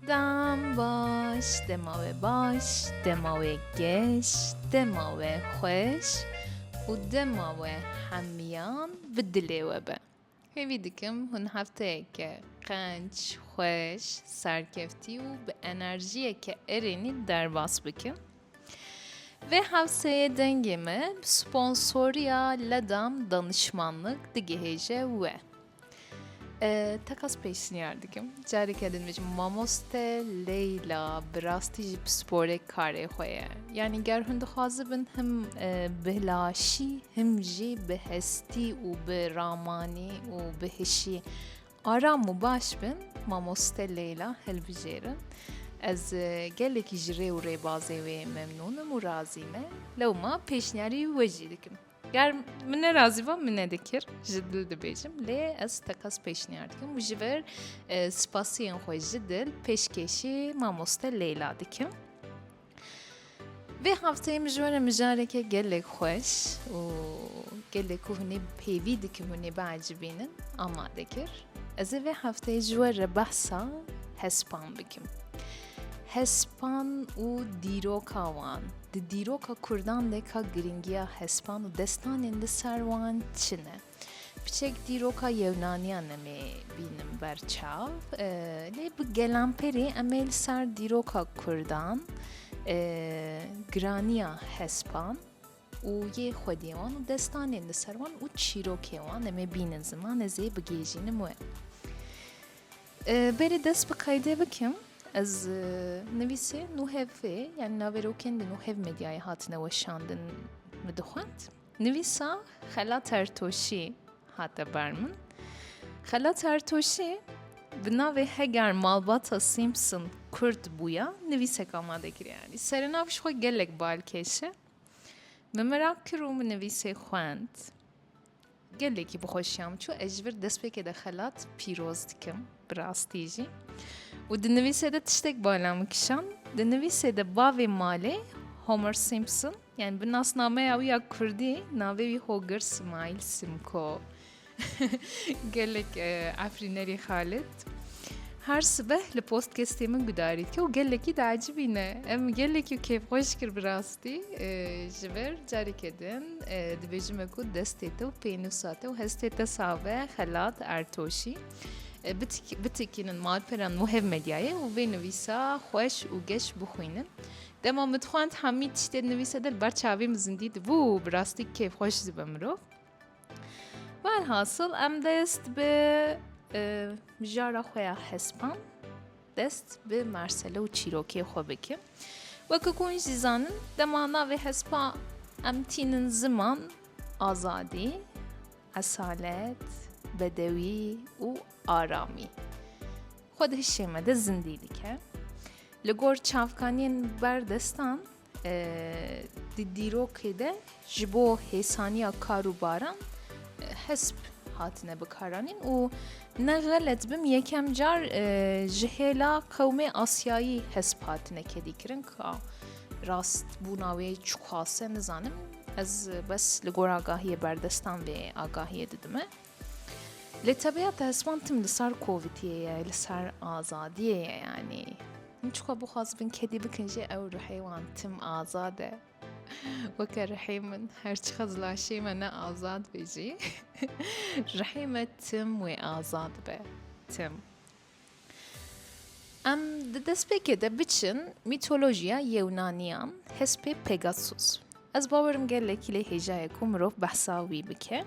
Dem baş, dema we baş, dema we geş, dema we xweş û dema we hemiyan bi dilê we be. Hêvî dikim hûn hefteyeke qenc, xweş, serkeftî û bi enerjiyeke erênî derbas bikin. Vê hewseyê dengê me bi sponsoriya Ledam Danişmanlik digihêje we. Tekas pêşniyar dikim careke din bêjim mamoste Leyla bi rastî jî bi sporê karê xwe ye yanî ger hûn dixwazibin him bi laşî him jî bi hestî û bi ramanî û bi hişî aram û baş bin mamoste Leyla hilbijêrin ez gelekî ji rê û rêbazê wê memnûnim û razî me lewma pêşniyarî we jî dikim. Ger min ne razî ba min nedikir ji dil dibêjim lê ez tekas pêşniyar dikim û ji vir e, spasiyên xwe ji dil pêşkêşî mamoste Leyla dikim. Vê hefteyê min ji we re mijareke gelek xweş û gelek ku hûnê pêvî dikim hûnê biecibînin amade kir. Ez ê vê hefteyê ji we re behsa hespan bikim. Hespan û dîroka wan, di dîroka Kurdan de ka girîngiya hespan û destanên li ser wan çi ne? Piçek dîroka Yewnaniyan em ê bînin ber çav. Lê bi gelanperê em ê li ser dîroka Kurdan, giraniya hespan, û yê xwediyê wan û destanên li ser wan û çîrokên wan em ê bînin ziman ez ê bigihîjînim wê. Berê dest bi qeydê bikim ez nivîsê nû hevê yani naverokên di nû hev medyayê hatine weşandin min dixwend. Nivîsa xela tertoşî hate ber min. Xela tertoşî bi navê heger malbata Simpson kurd bûya nivîsek amade kiriye. Serenav ji xwe gelek balkêş e. Min merak kir û min nivîsê xwend. Gelekî bi xweşiyam çû ez ji vir destpêkê de xelat pîroz dikim bi rastî jî. û di nivîsê de tiştek bala min kişan di nivîsê de bavê malê Homer Simpson yani bi nasnameya wî ya Kurdî navê wî Hogir Simail Simko. Gelek afrînerî Xalid. Her sibeh li postkestê min gudarît ke û gelekî diacibîne. Em gelekî kêfxweş kir bi rastî ji vir careke din dibêjim me ku destê te û pênûsa te û hestê te save xelat ertoşî. Bitikînin malperan muhev medyayê û vê nivîsa xweş û geş bixwînin. Dema min dixwend hemî tiştê nivîse der ber çavê min zindî dibû û bi rastî kêfxweş dibe mirov. Velhasil em dest bi mijara xwe ya hespan dest bi mersele û çîrokê xwe bikin. Weke ku jî zanin dema navê hespa em tînin ziman, azadî, esalet, bedewî û aramî. Xwe di hişê me de zindî dike. Li gor çavkaniyên berdestan Di dîrokê de ji bo hêsaniya kar û baran hesp hatine bikaranîn û ne xelet bim yekem car ji hêla qewmê Asyayî hesp hatine kedîkirin ka rast bûna wê çiqas e nizanim ez bes li goragahiyê berdestan vê agahiyê didime. Lê tebiya te heswan tim li ser kovîtiyê ye, li ser azadiyê ye yanî. Min çiqo bixwaz bin kedî bikin jê ew ruhê wan tim azad e. Weke ruhê min her çiqas laşê me ne azad be jî ruhê me tim wê azad be. Tim. Em di destpêkê de biçin mîtolojiya Yewnaniyan, hespê Pegasus. Ez bawerim gelekî lê hêjaye ku mirov behsa wî bike.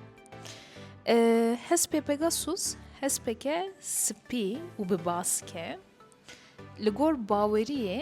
Hespê Pegasus hespeke spî û bi baske. Li gor baweriyê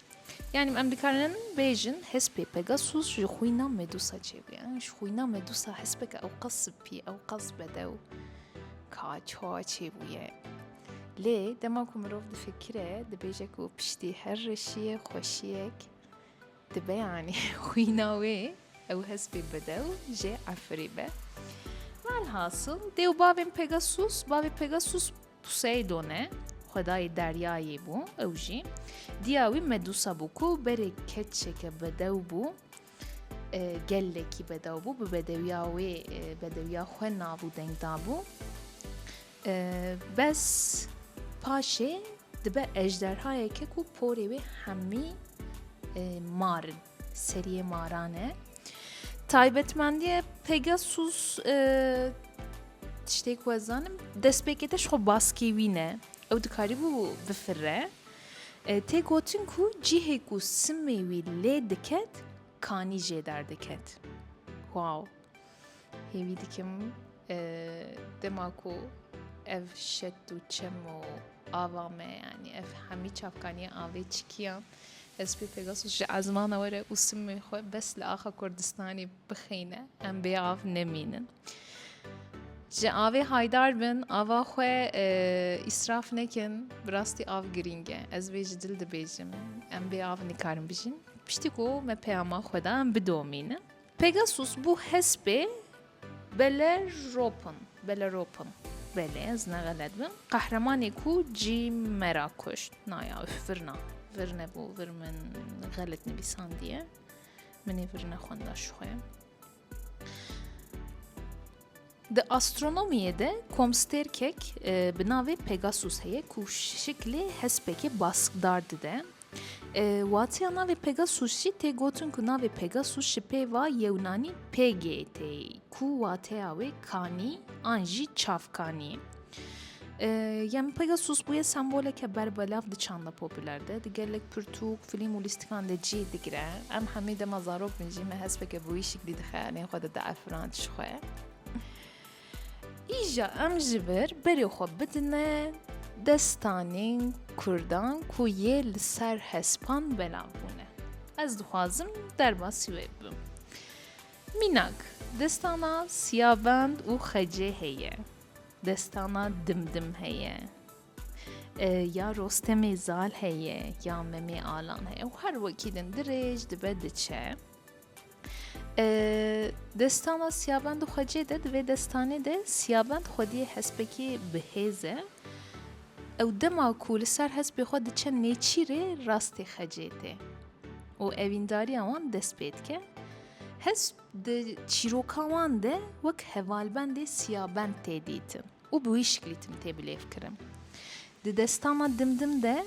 Yanî em dikarin bêjin hespê Pegasus ji xwîna Medusa çêbûye. Ji xwîna Medusa hespeke ew qas sipî, ew qas bedew ka ça çêbûye. Lê dema ku mirov difikire, dibêje ku piştî her reşiyê xweşiyek dibe yanî xwîna wê ew hespê bedew jê efirî be. Velhasil dê û bavên Pegasus, bavê Pegasus Poseidone, xwedayê deryayê bû ew jî. Diya wî Medusa bû ku berê keçeke bedew bû. E, gelekî bedew bû. Bi bedewiya wê, e, bedewiya xwe navû deng dabû. E, bes paşê dibe ejderhayeke ku porê wê hemî e, marin. Seriyê maran e. Taybetmendiye Pegasus e, tiştê ku ez zanim destpêkê te ji xwe baskê wî ne. Ew dikarîbû bifirre. E, tê gotin ku cihê ku simê wî lê diket kanî jê derdiket. Wow. Hêvî dikim dema ku ev şet û çem û ava me yanî ev hemî çavkaniya avê çikiyan ez pê Pegasus ji ezmana were û simê xwe bes li axa Kurdistanê bixeyne em bê av nemînin. Ji avê haydar bin ava xwe îsraf nekin bi rastî av girîng e ez vê ji dil dibêjim em bê av nikarin bijîn piştî ku me peyama xwe da em bidomînin. Pegasus bû hespê Belleropon, Belleropon, belê ez ne xelet bim, qehremanê ku cî me ra kuşt. Naya üf virna, vir nebû, vir min xelet nivîsandiye. Minê vir nexwenda ji xwe. Di astronomiyê de komstêrkek e, bi navê Pegasus heye ku şiklê hespekê baskdar dide. Watiya navê Pegasus jî tê gotin ku navê Pegasus ji pêva Yewnanî Pegê tê ku wateya wê kanî an jî çavkanî. Yem Pegasus bûye semboleke berbelav di çanda popüler de di gelek pirtûk, filîm û lîstikan de cî digire. Em hemî dema zarok bin jî me hespeke bûyîşik dî di xeyalên xwe de diefirand ji xwe. Îja em ji vir berê xwe bidine destanên Kurdan ku yê li ser hespan belav bûne. Ez dixwazim derbasî wê bibim. Mînak, destana Siyabend û Xecê heye. Destana Dimdim heye. Ya Rostemê Zal heye, ya Memê Alan heye û her wekî din dirêj dibe diçe. Destana Siyabend Xwecê de di vê destanê de Siyabend xwediyê hespekê bi hêz e. Ew dema ku li ser hespê xwe diçe nêçîrê rastê xecê tê û evîndariya wan dest pê dike. Hesp di çîroka wan de wek hevalbendê siyabend tê dîtin û bi wî şiklî tim tê bilêvkirin. Di destana dimdim de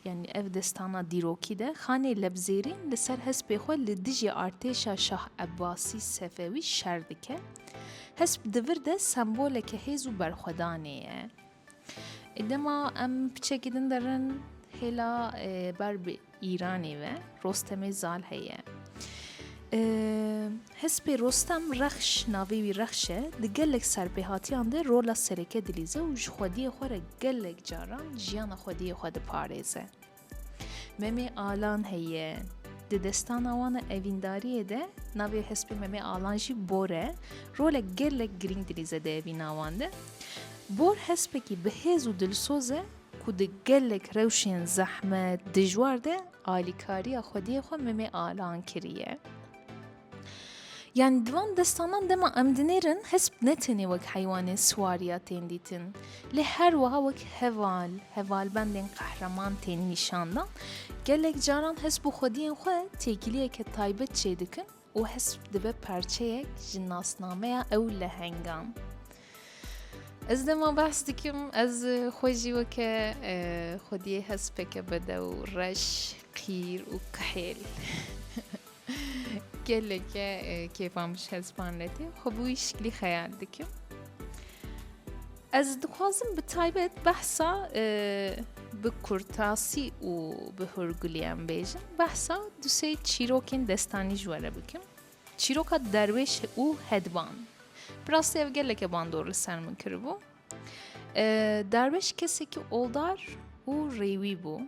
Yanî ev destana dîrokî de Xanê Lebzêrîn li ser hespê xwe li dijî artêşa Şah Ebbasî Sefewî şer dike. Hesp di vir de semboleke hêz û berxwedanê ye. Dema em piçekî din derin hêla ber bi Îranê ve Rostemê Zal heye. Hespê Rostem Rexş navê wî Rexş e di gelek serpêhatiyan de rola sereke dilîze û ji xwediyê xwe re gelek caran jiyana xwediyê xwe diparêze. Memê Alan heye. Di destana wan e evîndariyê de navê hespê Memê Alan jî Bor e, rolek gelek girîng dilîze di evîna wan de. Bor hespekî bi hêz û dilsoz e ku di gelek rewşên zehmet, dijwar de alîkariya xwediyê xwe Meme Alan kiriye. Yani di van destanan dema em dinêrin hesp ne tenê wek heywanên siwariya tên dîtin. Lê her wiha wek heval, hevalbendên qehreman tên nîşandan. Gelek caran hesp û xwediyên xwe têkiliyeke taybet çêdikin û hesp dibe parçeyek ji nasnameya ew lehengan. Ez dema behs dikim ez xwe jî weke xwediyê hespeke bedew reş qîr û kihêl. Geleke kêfan bi ji hespan letê xwe bi wî şiklî xeyal dikim. Ez dixwazim bi taybet behsa bi kurtasî û bi hurgulîyan bêjim. Behsa du sê çîrokên destanî ji were bikim. Çîroka derwêş û hedban. Bi rastî ev geleke bandor li ser min kiribû. Derwêş kesekî oldar û rêwî bû.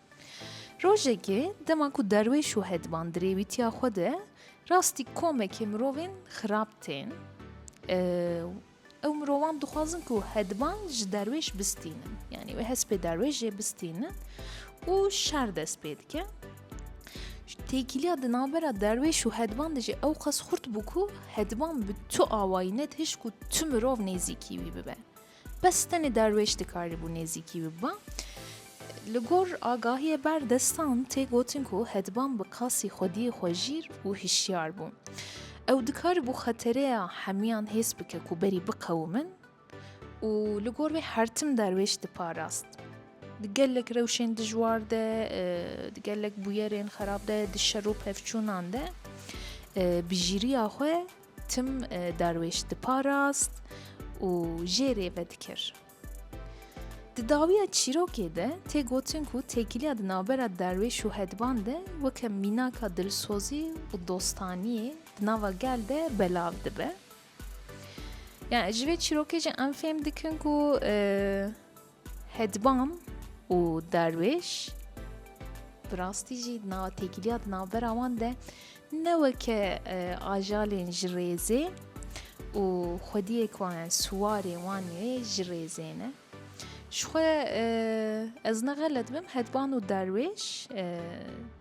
Rojekê dema ku derwêş û hediman di rêwîtiya xwe de rastî komekê mirovên xirab tên, ew mirovan dixwazin ku hediman ji derwêş bistînin. Yanî wê hespê derwêş jê bistînin û şer dest pê dike. Têkiliya di navbera derwêş û hediman de jî ew qas xurt bû ku hediman bi tu awayî net hişt ku tu mirov nêzîkî wî bibe. Bes tenê derwêş dikarîbû nêzîkî biba. Li gor agahiyê ber destan tê gotin ku Hedban bi qasî xwediyê xwe jîr û hişyar bû. Ew dikarîbû xetereya hemiyan hês bike ku berî biqewimin û li gor wê her tim derwêş diparast. Di gelek rewşên dijwar de, di gelek bûyerên xerab de, di şer û pevçûnan de bijîriya xwe Tim derwêş diparast û jê rê vedikir. Di dawiya çîrokê de tê gotin ku têkiliya di navbera derwêş û hedban de weke mînaka dilsozî û dostaniyê di nava gel de belav dibe. Yani ji vê çîrokê jî em fêm dikin ku e, Hedbam û Darwêş bi rastî jî di nav têkiliya di navbera wan de ne weke ajalên ji rêzê û xwediyê ku wan yani siwarê wan ê ji rêzê ne. Ji xwe ez ne xelet bim Hedban û Darwêş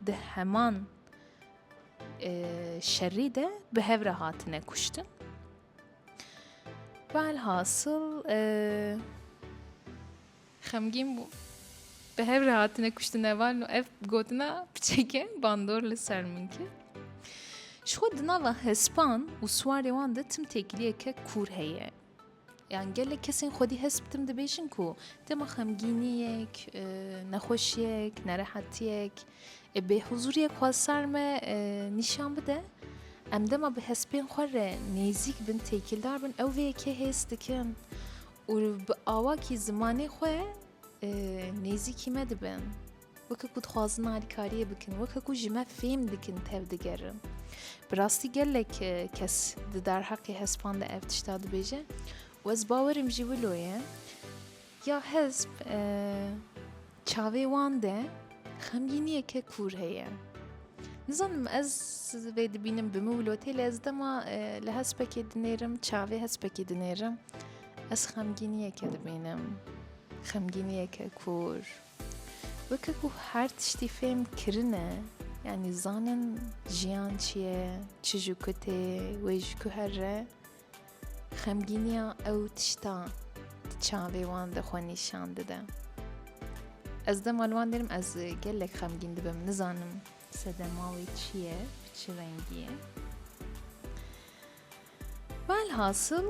di heman şerî de bi hev re hatine kuştin. Velhasıl e, xemgîn bû. Bi hev re hatine kuştine valin û ev gotina piçeke bandor li ser min kir. Ji xwe di nava hespan û swarê wan de tim têkiliyeke kûr heye. Yan gelek kesên xwedî hesp tim dibêjin ku dema xemgîniyek, e, nexweşiyek, nerehetiyek, E bê huzuriyek xwe sar me nîşan bide. Em dema bi hespên xwe re nêzîk bin, têkildar bin, ew vê yekê hêz dikin û bi awakî zimanê xwe nêzîkî me dibin. Weke ku dixwazin alîkariyê bikin, weke ku ji me fêm dikin tev digerin. Bi rastî gelek kes di derheqê hespan de ev tişta dibêje û ez bawerim jî wilo ye. Ya hizb çavê wan de xemgîniyeke kûr heye. Nizanim ez vê dibînim bi min wlotê lê ez dema li hespekê dinêrim çavê hespekê dinêrim ez xemgîniyeke dibînim. Xemgîniyeke kûr. Weke ku her tiştî fêm kirine yanî zanin jiyan çi ye, çi ji ku tê, wê ji ku here. Xemgîniya ew tişta di çavê wan de xwe nîşan dide. Ez dema li wan derim ez gelek xemgîn dibim, nizanim sedema wê çi ye, bi çi rengî ye. Velhasil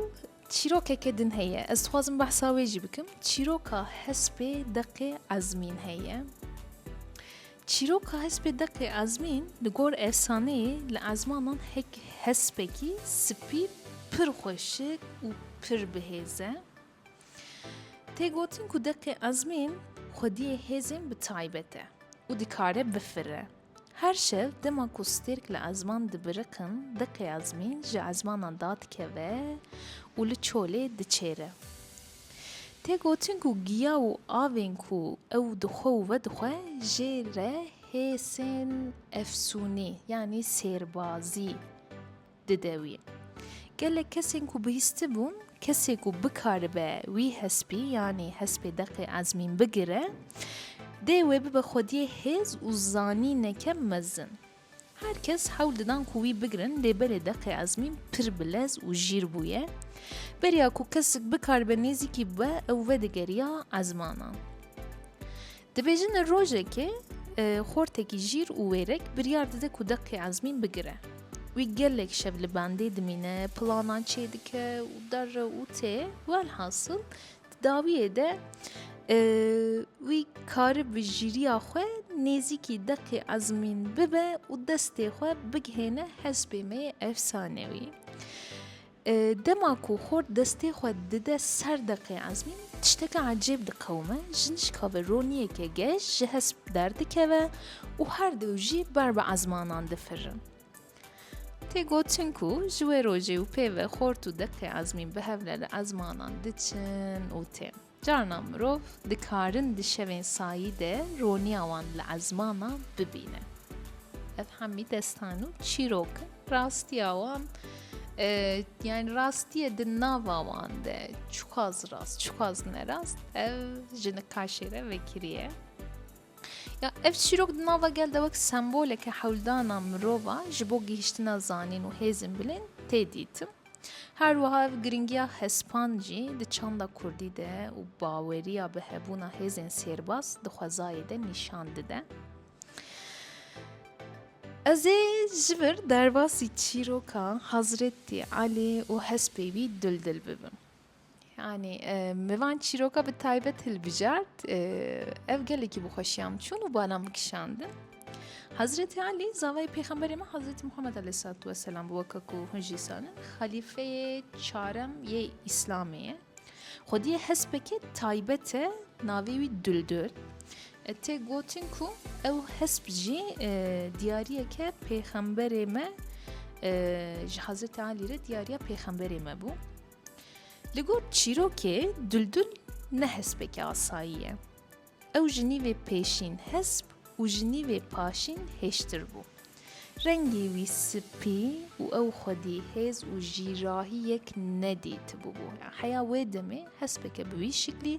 çîrokeke din heye. Ez dixwazim behsa wê jî bikim. Çîroka hespê deqê ezmîn heye. Çîroka hespê Deqê Ezmîn li gor efsaneyê li ezmanan hek hespekî spî pir xweşik û pir bihêz e. Tê gotin ku Deqê Ezmîn xwediyê hêzên bi taybet e û dikare bifire. Her şev dema ku stêrk li ezman dibiriqin Deqê Ezmîn ji ezmanan dadikeve û li çolê diçêre. Tê gotin ku giya û avên ku ew dixwe û vedixwe jê re hêsên efsûnî yanî sêrbazî dide wî. Gelek kesên ku bihîstibûn kesê ku bikaribe wî hespî yanî hespê deqê ezmîn bigire dê wê bibe xwediyê hêz û zanîneke mezin. Her kes hewl didan ku wî bigirin lê berê deqê Ezmîn pir bilez û jîr bûye. Beriya ku kesik bikaribe nêzîkî bibe ew vedigeriya Ezmana. Dibêjin li rojekê xortekî jîr û wêrek biryar dide ku deqê Ezmîn bigire. Wî gelek şev li bendê dimîne, planan çêdike û derre û tê, welhasil Dawiyê de wî karib bi jîriya xwe nêzîkî deqê ezmîn bibe û destê xwe bigihêne hespê me yê efsanewî. Dema ku xort destê xwe dide ser deqê ezmîn tişteke ecêb diqewime jinişka ve roniyeke geş ji hesp derdikeve û her dew jî ber bi ezmanan difirin. Tê gotin ku ji wê rojê û pêve xort û deqê ezmîn bi hevle li ezmanan diçin û tên. Carna mirov dikarin di şevên sayî de roniya wan li ezmanan bibîne. Ev hemî destan û çîrok in. Rastiya wan yani rastiye di nava wan de çiqas rast çiqas nerast ev ji nikaşê re vekiriye. Ya ev çîrok di nava gel de wek semboleke hewldana mirova ji bo gihiştina zanîn û hêzên bilên tê dîtin. Her wiha ev giringiya hespan jî di çanda kurdî de û baweriya bi hebûna hêzên sêrbas di xwezayê de nîşan dide. Ez ê ji vir derbasî çîroka Hezretî Elî û hespê wî dildil bibim. Anî min van çîroka bi taybet hilbijart ev gelekî bi xweşiya min çûn û bana min kişandin. Hazretê Alî zavayê pêxemberê min Hazretî Muhammed aleyhissalatu vesselam bi weke ku hûn jî zanin xelîfeyê çarem yê Îslamê ye. Xwediyê hespeke taybet e navê wî Duldul. E, tê gotin ku ew hesp jî e, diyariyeke pêxemberê me e, ji Hazretê Alî re diyariya pêxemberê me bû. Li gor çîrokê Duldul ne hespêke asayî ye. Ew ji nîvê pêşîn hesp û ji nîvê paşîn hêştir bû. Rengê wî spî û ew xwedî hêz û jîrahî yek nedîtibûbû. Heya wê demê hespeke bi wî şiklî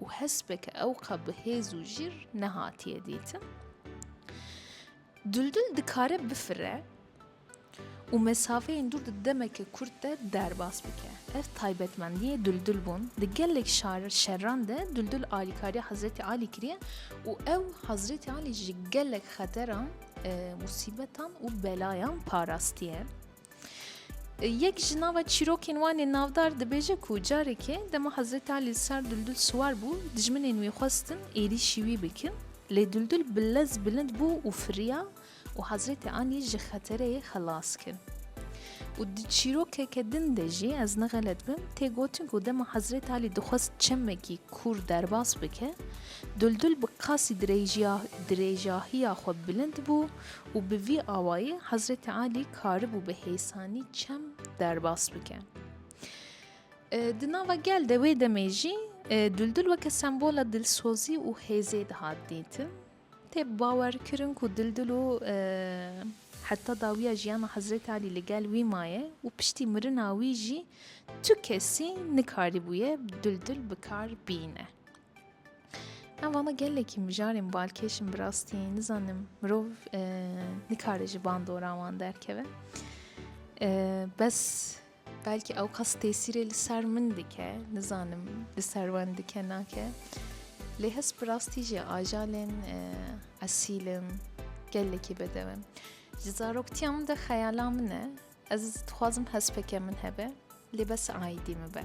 û hespeke ewqa bi hêz û jîr nehatiye dîtin. Duldul dikare bifire û mesafeyên dûr di demeke kurt de derbas bike. Ev taybetmendiyê Duldul bûn di gelek şerran de Duldul alîkariya Hezretî Alî kiriye û ew Hezretî Alî ji gelek xeteran, musîbetan û belayan parastiye. Yek ji nava çîrokên wan ê navdar dibêje ku carekê dema Hezretî Alî li ser Duldul siwar bû, dijminên wî xwestin êrîşî wî bikin lê Duldul bi lez bilind bû û firiya Û Hezretê Alî ji xeterê yê xelas kir. Û di çîrokeke din de jî ez nexelet bim tê gotin ku dema Hezretê Alî dixwest çemekî kûr derbas bike, Duldul bi qasî dirêjahiya xwe bilind bû û bi vî awayî Hezretê Alî karibû bi hêsanî çem derbas bike. Di nava gel de wê demê jî Duldul weke sembola dilsozî û hêzê dihat dîtin. Tê bawer kirin ku Dildilo heta dawiya jiyana Hezretê Alî li gel wî maye û piştî mirina wî jî tu kesî nikarîbûye Dildil bi kar bîne. Em vana gelekî mijarên balkêş in bi rastî nizanim mirov nikare ji bandora wan derkeve. Bes Belkî ew kas tesîrê li ser min dike, nizanim li ser wan dike nake. Lê hez bi rastî jî ajalên e, esîl in, gelekî bedew in. Ji zaroktiya min de xeyala min e, ez dixwazim hespeke min hebe, lê bes aîdî min be.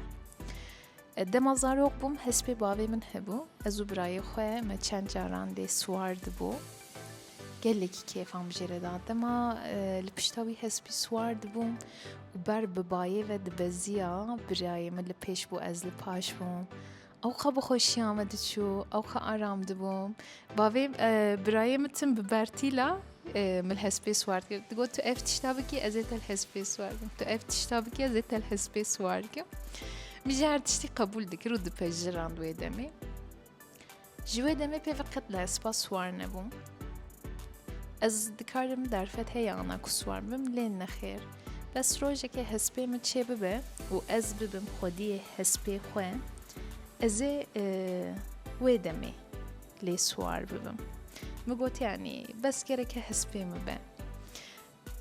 Dema zarok bûm hespê bavê min hebû. Ez û birayê xwe me çend caran lê siwar dibû. Gelekî kêfan bi jê re da. Dema e, li pişta wî hespî siwar dibûm û ber bi bayê ve dibeziya birayê min li pêş bû ez li paş bûm. Ewxa bi xweşiya me diçû, ewxa aram dibûm. Bavê e, birayê min tim bi bertîla Min hespê siwar kir. Digot tu ev tişta bikî ez ê te li hespê siwar kim. Tu ev tişta bikî ez ê te li hespê siwar kim. Min jî her tiştî qebûl dikir û dipejirand wê demê. Ji wê demê pê ve qet li hespa siwar nebûm. Ez dikarim derfet heye ana ku siwar bim lê nexêr. Bes rojekê hespê min çê bibe û ez bibim xwediyê hespê xwe ez ê wê demê lê siwar bibim. Min gotiyanî bes gereke hespê min be.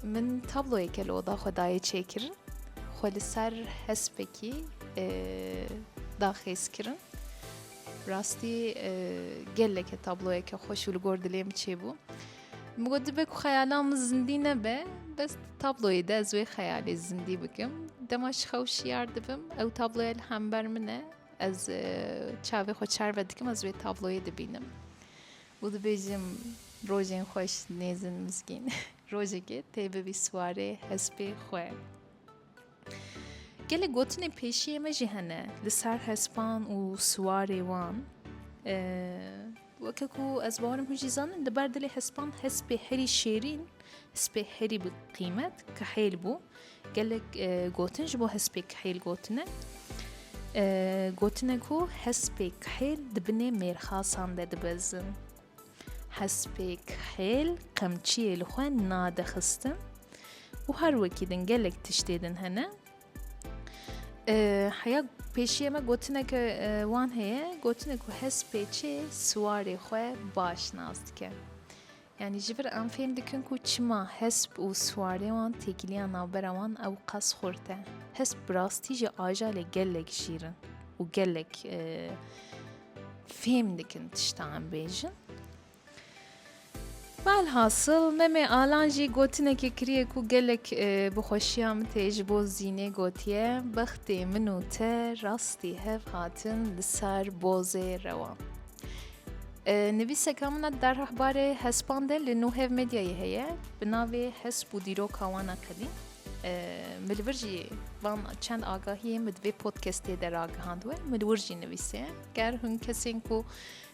Min tabloyeke li oda xwe dayê çêkirin, xwe li ser hespekî daxêz kirin. Rastî geleke tabloyeke xweş û li gor dilê min çêbû. Min got dibe ku xeyala min zindî nebe, bes tabloyê de ez wê xeyalê zindî bikim. Dema ji xew şiyar dibim, ew tabloya li hember min e, Ez çavê xwe çar ve dikim ez vê tabloyê dibînim û dibêjim rojên xweş nêzin mizgîn rojekê tê bibî siwarê hespê xwe. Gelek gotinê pêşiyê me jî hene li ser hespan û siwarê wan. Weke ku ez bawerim hûn jî zanin li ber dilê hespan hespê herî şêrîn, hespê herî bi qîmet kihêl bû. Gelek gotin ji bo hespê kihêl gotine. Gotine ku hespê kihêl di binê mêrxasan de dibezin. Hespê kihêl qemçiyê li xwe nadixistin û her wekî din gelek tiştê din hene Heya pêşiya me gotineke wan heye gotinê ku hespêçê siwarê xwe baş nas dike. Yani ji vir em fêm dikin ku çima hesp û siwarê wan têkiliya navbera wan ew qas xurt e. Hesp bi rastî jî ajalê gelek şîrin û gelek fêm dikin tişta em bêjin. Velhasil Meme Alan jî gotinekê kiriye ku gelek bi xweşiya min tê ji bo Zînê gotiye, Bextê min û te rastî hev hatin li ser bozê rewa. Nivîseka min a derheh barê hespan de li Nuhev Medyayê heye bi navê Hesp û dîroka wan a qedîm. Min li vir jî van çend agahiyên min di vê podcastê de ragihandwe, min li wir jî nivîse. Ger hûn kesên ku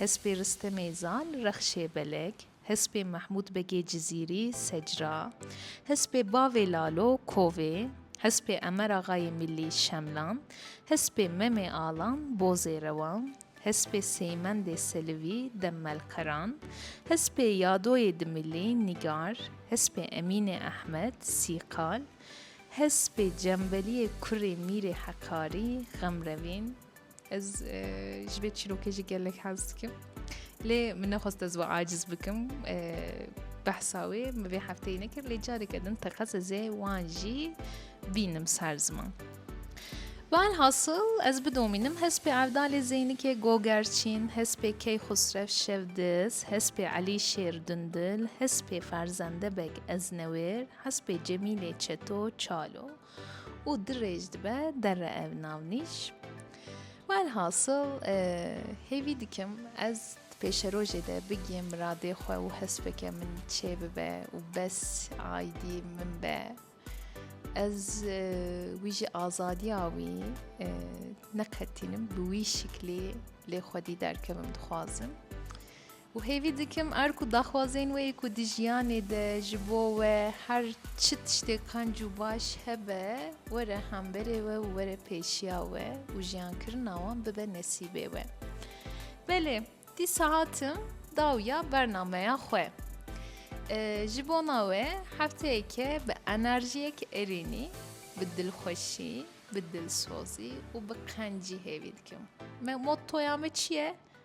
Hespê Riste Mêzan, Rexşê Belek, Hespê Mehmûd Begê Cizîrî, Secra, Hespê Bavê Lalo, Kovê, Hespê Emer Axayê Mîllî, Şemlan, Hespê Memê Alan, Bozê Rewan, Hespê Seymendê Selivî, Demmelqeran, Hespê Yadoyê Dimilî, Nîgar, Hespê Emînê Ehmed, Sîqal, Hespê Cembeliyê Kurê Mîrê Hekarî, Xemrevîn, Ez ji vê çîrokê jî gelek hez dikim. Lê min nexwest ez we aciz bikim. Behsa wê min vê hefteyê nekir lê careke din teqez ez ê wan jî bînim ser ziman. Bal hasıl ez bidomînim hespê Erdalê Zeynikê Gogerçîn, hespê Key Xusrev Şevdiz, hespê Elî Şêr Dundil, hespê Ferzende Beg Eznewêr, hespê Cemîlê Çeto Çalo. û dirêj dibe derre ev navnîş. Welhasil e, hêvî dikim ez di pêşerojê de bigiyê miradê xwe û hespeke min çê bibe û bes aydî min be. Ez e, wî ji azadiya wî e, neqetînim bi wî şiklî lê xwedî derkevim dixwazim. Û hêvî dikim erk û daxwazên wê ku di jiyanê de ji bo we her çi tiştê qenc û baş hebe, were hemberê we û were pêşiya we û jiyankirina wan bibe nesîbê we. Belê, dîsa hatim dawiya bernameya xwe. Ji bona we hefteyeke bi enerjiyek erênî, bi dilxweşî, bi dilsozî û bi qencî hêvî dikim. Me mottoya me çi ye?